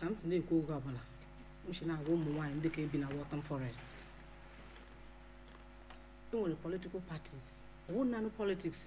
ka m si na-ekwu oge ọbụla m si na-agwa ụmụ nwaanyị ndị ka ebi na Waltham Forest e nwere political parties ọwụ nanụ politics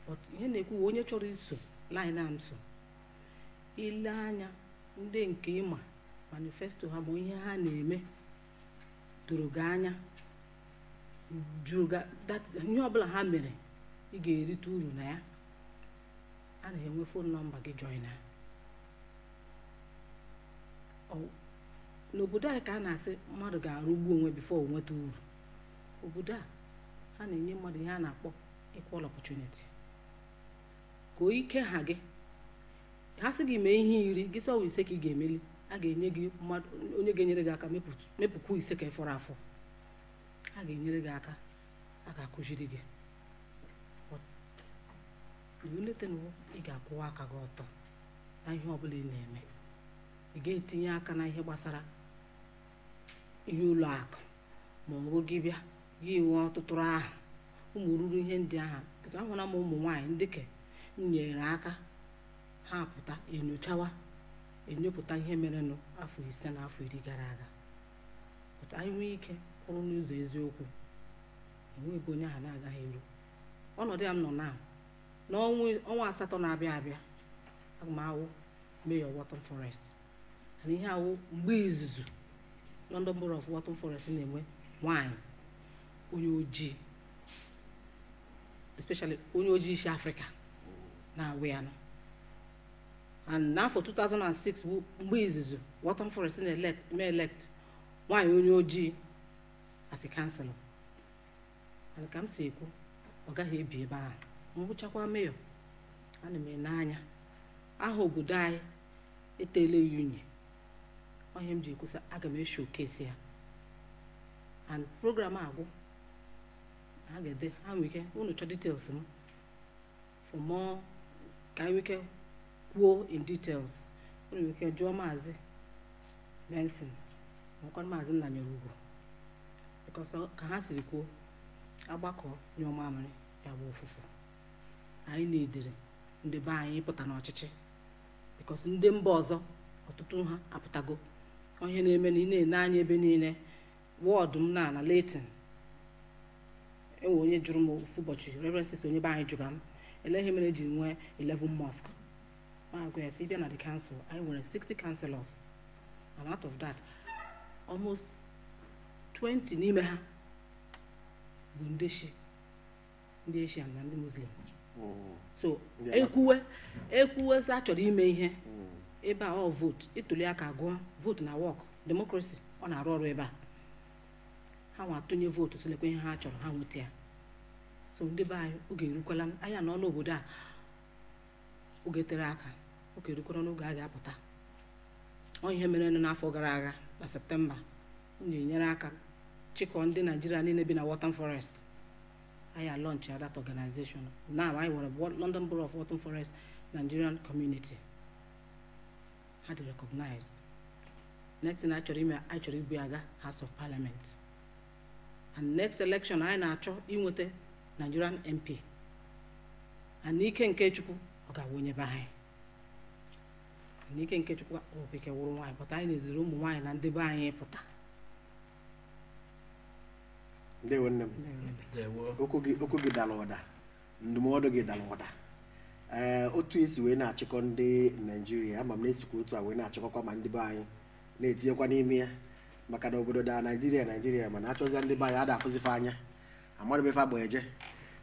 but ihe m na-ekwu wụ onye chọrọ iso line a m so i lee anya ndị nke ị ma manifesto ha ma ihe ha na-eme doro gị anya jụrụ ihe ọbụla ha mere ị ga-erite uru na ya a na-enwe phone number gị joina n'obodo anyị ka a na-asị mmadụ ga-arụgbu onwe before o nweta uru obodo a ha na-enye mmadụ ihe a na-akpọ equal opportunity ka ike ha gị ha sị gị mee ihe iri gị sị ọ wụ ise ka ị ga-emeli a ga-enye gị mmadụ onye ga-enyere gị aka mepụkwu ise nke fọrọ afọ a ga-enyere gị aka a ga-akụziri gị iwulite onwe ị ga-akwụwa aka gị ọtọ na ihe ọbụla ị na-eme ị ga-etinye aka na ihe gbasara ihe ọlụ aka ma ọ bụ gị bịa gị nwee ọtụtụ aha ụmụ ruru ihe ndị ahụ pụta ahụla m ụmụ nwaanyị ndị nke e nyere aka ha pụta enyochawa enyopụta ihe merenụ afọ ise na afọ iri gara aga pụta anyị nwee ike kwụrụ n'ụzọ eziokwu enwe ebe onye ahụ na-agaghị eru ọnọdụ ya m nọ na n'ọnwa asatọ na-abịa abịa aga m awụ mayor Waltham Forest and ihe a wụ mgbe izizi London Borough of Waltham Forest na-enwe nwanyị onye ojii especially onye ojii isi Afrịka na-awụ ya nụ and n'afọ 2006 wụ mgbe izizi Waltham Forest na-elect nwaanyị onye ojii as councillor and ka m si ekwu ọ gaghị ebi ebe ahụ m wụchakwa mayor ana m ene anya aha obodo anyị etele ya unyi ọ ihe m ji ekwusa aga m e-showcase ya and program agwụ ha ga-ede ha nwere ike unu chọọ details m for more ka anyị nwike kwuo in details unu nwike jụọ maazị Benson makwa maazị Nnanyereugo because ka ha siri kwuo a gbakọọ nyụọ mamịrị ya agbọ ụfụfụ anyị na-edere ndị be anyị ịpụta n'ọchịchị because ndị mba ọzọ ọtụtụ ha apụtago ọ ihe na-eme na ị na-ene anya ebe niile ward m nọ na Leyton e nwere onye jụrụ m ofu ụbọchị reverend sister onye be anyị jụga m olee ihe mere e ji nwee 11 mosque m agwa ya sị bịa na the council anyị nwere 60 councillors and out of that almost 20 n'ime ha bụ ndị shi ndị Asian na ndị Muslim hmm. so ekwuwe ekwuwe sị a chọrọ ime ihe hmm. ebe a ọ vootu ịtụli aka agụọ vootu na wọk demokrasi ọ na-arụ ọrụ ebe a ha nwa atụnye vootu sị lekwa ihe ha chọrọ ha nweta ya so ndị be anyị oge erukwala anyị anọọna obodo a oge tere aka oge rukwara n'oge a ga-apụta ọ ihe mere n'afọ gara aga na septemba m ji nyere aka chịkọọ ndị naijiria niine bi na Waltham Forest anyị alọnchịa that organization now anyị nwere London Borough of Waltham Forest Nigerian Community ha dị recognized next thing anyị chọrọ ime anyị chọrọ ibu aga House of Parliament and next election anyị na-achọ inweta Nigerian MP and n'ike nke Chukwu ọ ga-awụ onye be anyị and n'ike nke Chukwu okike wụrụ nwaanyị pụta anyị na-ezere ụmụ nwaanyị na ndị be anyị pụta ndewo nne m Ndewo. okwu gị okwu gị dara ụda ndụmọdụ gị dara ụda ee otu e si wee na-achịkọ ndị naijiria ama m na e sikwa otu a wee na-achịkọkwa ma ndị be anyị na-etinyekwa n'ime ya maka na obodo daa naijiria naijiria mana a chọzia ndị be anyị a da afụzi fa anya amarịba ife agba eje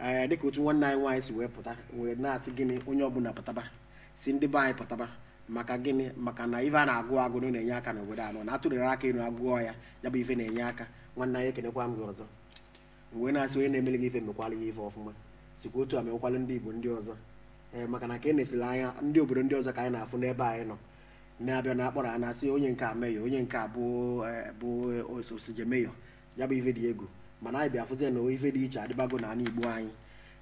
ee dịka otu nwanne anyị nwaanyị si wee pụta wee na-asị gịnị onye ọbụla pụtaba sị ndị be anyị pụtaba maka gịnị maka na ife a na-agụ agụ na ọ na-enye aka n'obodo a nọ na a tụliri aka elu agụọ ya ya bụ ife na-enye aka nwanne anyị ekenekwa m gị ọzọ m wee na-asị onye na-emelụ gị ife mekwalụ ya ife ọfụma sikwa otu a mekwalụ ndị igbo ndị ọzọ ee maka na ka e na-esili anya ndị obodo ndị ọzọ ka anyị na-afụ n'ebe anyị nọ na-abịa na-akpọrọ ha na-asị onye nke a meyọ onye nke a bụ eh, bụ osote meyọ ya bụ ife dị egwu mana anyị bịa fụzie na ife dị iche adịbago na ala igbo anyị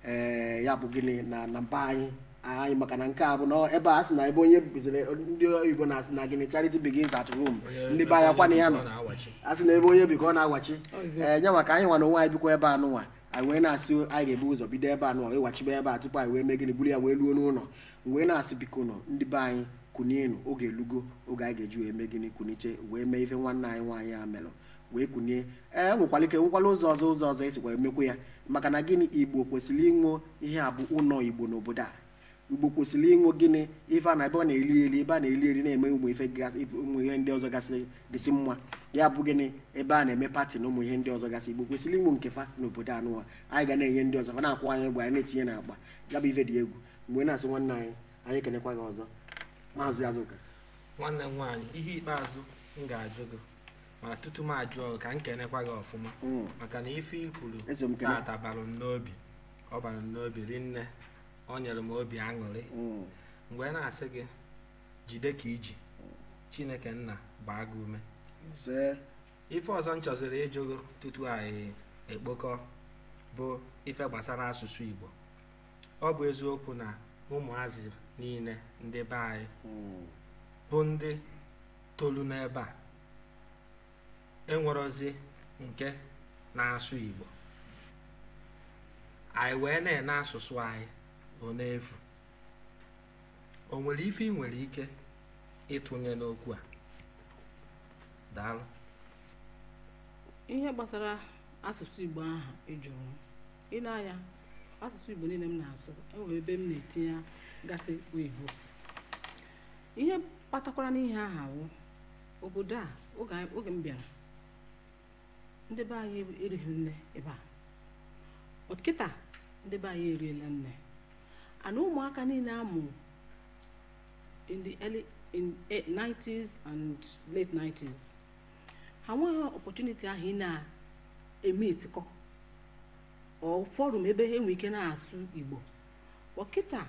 ee eh, ya bụ gịnị na na mba anyị anyị maka na nke a bụ na ebe a sị na ebe onye bizere ndị oyibo na-asị na gịnị charity begins at home ndị be anyị akọwana ya na-asị na ebe onye bi ka ọ na-awachi ee eh, nye maka anyị nwa na onwe anyị bikwa ebe anụnwa anyị wee na-asị anyị ga-ebu ụzọ bido ebe a nụ wachibe ebe a tupu anyị wee mee gịnị buru ya wee ruo n'ụlọ m wee na-asị bikonụ ndị be anyị kunienu oge elugo oge anyị ga-eji wee mee gịnị kunite wee mee ife nwanne anyị nwaanyị a melụ wee kunie ee nwekwara ike nwekwara ụzọ ọzọ ụzọ ọzọ e sikwa emekwa ya maka na gịnị igbo kwesịrị inwe ihe a bụ ụlọ igbo n'obodo a igbo kwesịrị inwe gịnị ife a na ebe a na-eli eli ebe a na-eli eli na-eme ụmụ ife gasị ụmụ ihe ndị ọzọ gasị dịsị mma ya bụ gịnị ebe a na-eme pati na ụmụ ihe ndị ọzọ gasị igbo kwesịrị inwe nke fa n'obodo anụwa anyị ga na-enye ndị ọzọ fa na-akwụ anyị ụgwọ anyị na-etinye n'akpa ya bụ ife dị egwu mgbe na-asị nwanne anyị anyị ekenekwa gị ọzọ maazị azụka nwanne m nwaanyị ihe ikpeazụ m ga-ajụ gị ma tutu m ajụọ gị ka m kenekwa gị ọfụma hmm. maka na ife i kwuru tata bara m n'obi ọ bara m n'obi rinne ọ nyere m obi aṅụrị hmm. m wee na-asị gị jide ka i ji chineke nna gbaa gị ume ife ọzọ m chọziri ịjụ gị tutu anyị ekpokọọ bụ ife gbasara asụsụ igbo ọ bụ eziokwu na ụmụazị niile ndị be anyị hmm. bụ ndị tolu n'ebe a enwerozi nke na-asụ Igbo anyị wee nee na asụsụ anyị ọ na-efu o nwere ife ị nwere ike ịtụnye n'okwu a daalụ ihe gbasara asụsụ Igbo ahụ ị jụrụ i nee anya asụsụ Igbo niile m na-asụ e nwere ebe m na-etinyegasị oyibo ihe kpatakwaranụ ihe aha wụ obodo a oge m bịara ndị be anyị erighị nne ebe a but kịta ndị be anyị eriela nne and ụmụaka niile a mụ in the early in 90s eh, and late 90s ha nweghị opportunity ahụ ị na-eme itikọ or forum ebe ha enwe ike na-asụ igbo but kịta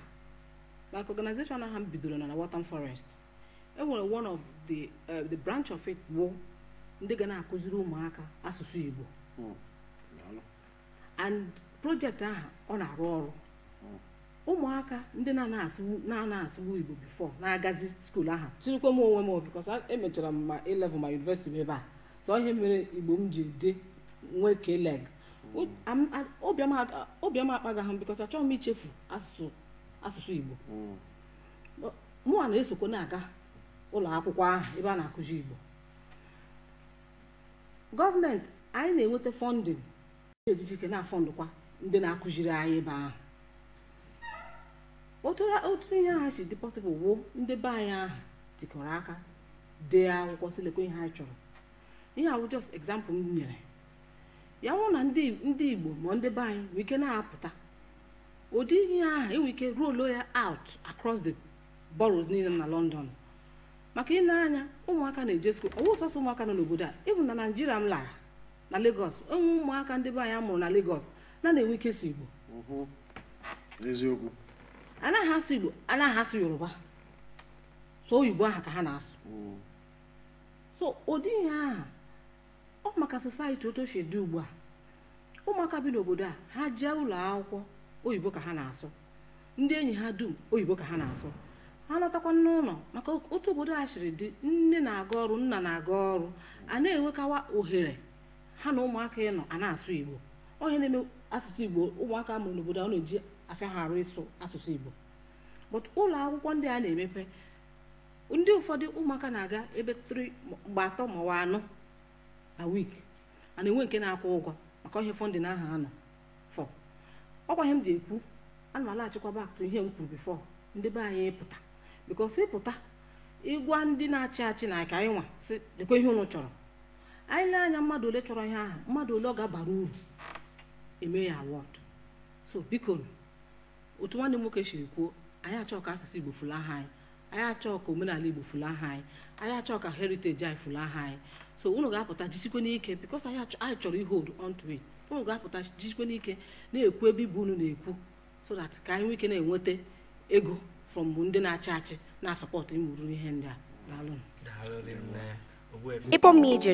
like organization ahụ m bidoro na na Waltham Forest e nwere one of the eh, the branch of it bụ ndị ga na-akụziri ụmụaka asụsụ igbo Mm. Daalụ. and project ahụ ọ na-arụ ọrụ ụmụaka ndị na-anaghị asụbu igbo before na-agazi school ahụ tinyekwa m onwe m because emechara m ma A level ma university ebe a so ihe mere igbo m ji dị nwee K-leg obiọma akpaga ha because achọghị m ichefu asụsụ igbo mm. mụa na-esokwa na-aga ụlọ akwụkwọ ahụ ebe a na-akụzi igbo government anyị na-enweta funding ndị ejiji ike na-afundkwa ndị na-akụziri anyị ebe ahụ otu ha- otu ihe aha si dị possible wụ ndị be anyị ahụ tikọrọ aka dee akwụkwọ sị lekwa ihe anyị chọrọ ihe a wụ just example m nyere ya wụ na ndị ndị igbo ma ndị be anyị nwere ike na-apụta ụdị ihe ahụ e nwere ike rolo ya out across the boroughs niile na london maka i lee anya ụmụaka na-eje school ọ wụghị sọsọ ụmụaka nọ n'obodo a even na naijiria m lara na Lagos o nwee ụmụaka ndị be anyị mụrụ na Lagos na-anaghị enwe ike ịsụ Igbo mhm. eziokwu anaghị asụ Igbo anaghị asụ Yoruba so oyibo aha ka ha na-asụ mhm. so ụdị ihe aha ọ maka society otu o si dị ugbu a ụmụaka bi n'obodo a ha jee ụlọ akwụkwọ oyibo ka ha na-asụ ndị enyi ha dum oyibo ka ha na-asụ ha lọtakwa n'ụlọ maka otu obodo a siri dị nne na-aga ọrụ nna na-aga ọrụ a na-enwekawa ohere ha na ụmụaka ịnọ a na-asụ igbo ọ ihe na-eme asụsụ igbo ụmụaka mụrụ n'obodo a na-eji afịa ha arụ ịsụ asụsụ igbo but ụlọ akwụkwọ ndị a na-emepe ndị ụfọdụ ụmụaka na-aga ebe three mgbe atọ ma ọ anọ na week a na-enwe nke na-akwụ ụgwọ maka ihe funding aha enough ọ kwa ihe m dị ekwu ana m alaghachikwa back to ihe m kwuru before ndị be anyị pụta because ị pụta ị gwa ndị na-achị achị na ka anyị nwa sị lekwa ihe ụnụ chọrọ anyị lee anya mmadụ ole chọrọ ihe ahụ mmadụ ole ọ ga-abara uru emee ya award so biko otu nwanne m nwoke siri kwuo anyị achọghị ka asụsụ igbo fulaha anyị anyị achọọ ka omenala igbo fulaha anyị anyị achọọ ka heritage anyị fulaha anyị so unu ga-apụta jisikwe n'ike because anyị chọrọ ihold onto it unu ga-apụta jisikwe n'ike na-ekwu ebe ọ bụ unu na-ekwu so that ka anyị nwee ike na-enweta ego from ndị na-achị achị na-asupport ụmụrụ ihe ndị a daalụ Igbo Media